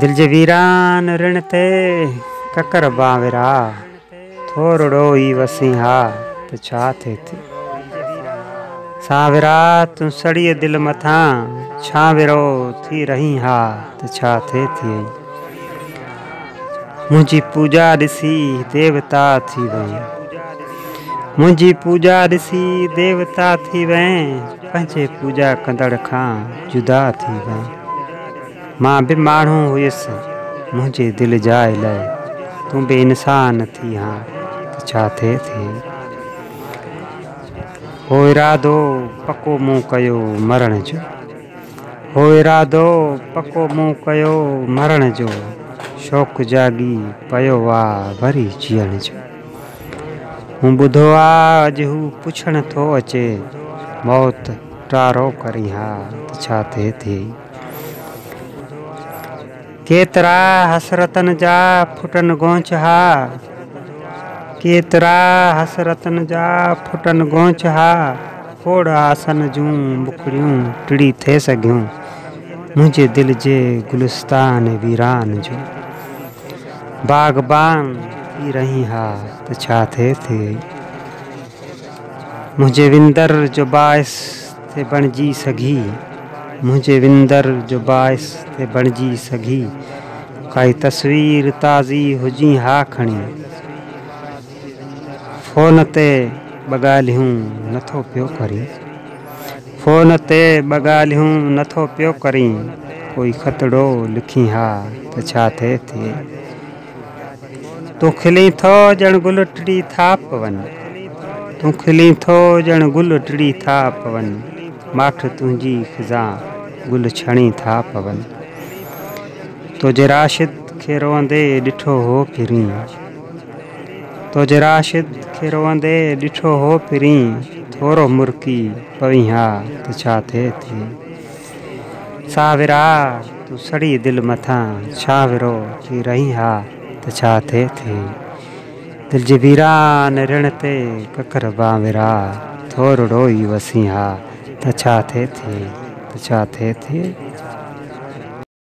دل جي ويران رڻ تي ڪڪر بانورا ٿورڙو ئي وسين ها ته ڇا ٿئي ٿي سانورا تون سڙي دل مٿان ڇانورو ٿي رهين ها ته ڇا ٿئي ٿي منهنجي پوڄا ڏسي ديوتا ٿي وئين منهنجي پوڄا ڏسي ديوتا ٿي وئين پنهنجي پوڄا ڪندڙ کان جدا ٿي وئين مان به ماڻهو هيس منهنجي دل جاء لئي تون به انسان ٿي ها ته ڇا ٿي ٿي هو ارادو پڪو مون ڪيو مرڻ جو هو ارادو پڪو مون ڪيو مرڻ جو، شوق جاڳي پيو آ وري جيئڻ جو. مون ٻڌو آ اڄ هو پڇڻ ٿو اچي، موت ٽارو ڪرين ها ته ڇا ٿئي ٿي. ڪيترا حسرتن جا ڦٽن گونچ ها، ڪيترا حسرتن جا ڦٽن گونچ ها، ڦوڙ آسن جون بکڙيون ٽڙي ٿي سگهيون، منهنجي دل جي گلستان ويران جو باغبان ٿي رهين ها ته ڇا ٿئي ٿي، منهنجي وندر جو باعث تي بڻجي سگهي، منهنجي وندر جو باعث تي بڻجي سگهي، ڪائي تصوير تازي هجين ها کڻي، فون تي ٻه ڳالهيون نٿو پيو ڪرين، فون تي ٻه ڳالهيون نٿو پيو ڪرين، ڪوئي خطڙو لکين ها ته ڇا ٿي ٿئي. تون کلين ٿو ڄڻ گل ٽڙي ٿا پون تون کلين ٿو ڄڻ گل ٽڙي ٿا پون ماٺ تنهنجي خزا گل ڇڻي ٿا پون تو جي راشد کي روئندي ڏٺو هو پرين تو جي راشد کي روئندي ڏٺو هو پرين ٿورو مرڪي پوين ها ته ڇا ٿئي ٿي ساهوڙا! تون سڙي دل مٿان شاهوڙو ٿي رهين ها ته ڇا ٿئي ٿي؟ دل جي ويران رڻ تي ڪڪر بانورا ٿورڙو ئي وسين ها ته ڇا ٿئي ٿي؟ ته ڇا ٿئي ٿي؟